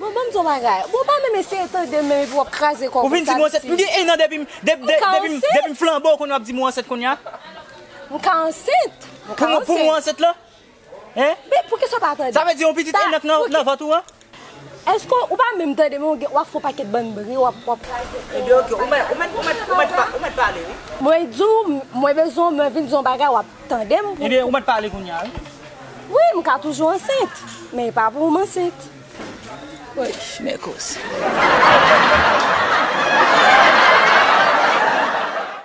Bon banm di yon bagay, bon pa menm eseye tandem menm epi wap kraze kòw konsa viti. Ou fin di m ansent, m gen 1 an depim depim flanbe ou konnen wap di m ou ansent kounya. M ka ansent, m ka ansent. Pou mwen ansent lan? Hein? Men poukisa w pa tande? Sa vle di yon pitit 1 an k nan vant ou an? Eske ou pa menm tande men wap fè yon pakèt bann bri wap kraze kòw. Ebyen ok, ou mèt pale wi. Mwen di w mwen bezwen w mwen vin di w yon bagay wap Tande m pou. Ebyen ou met pale kounya wi. Wi m ka toujou ansent men e pa pou m ansent. Woy mèkoz.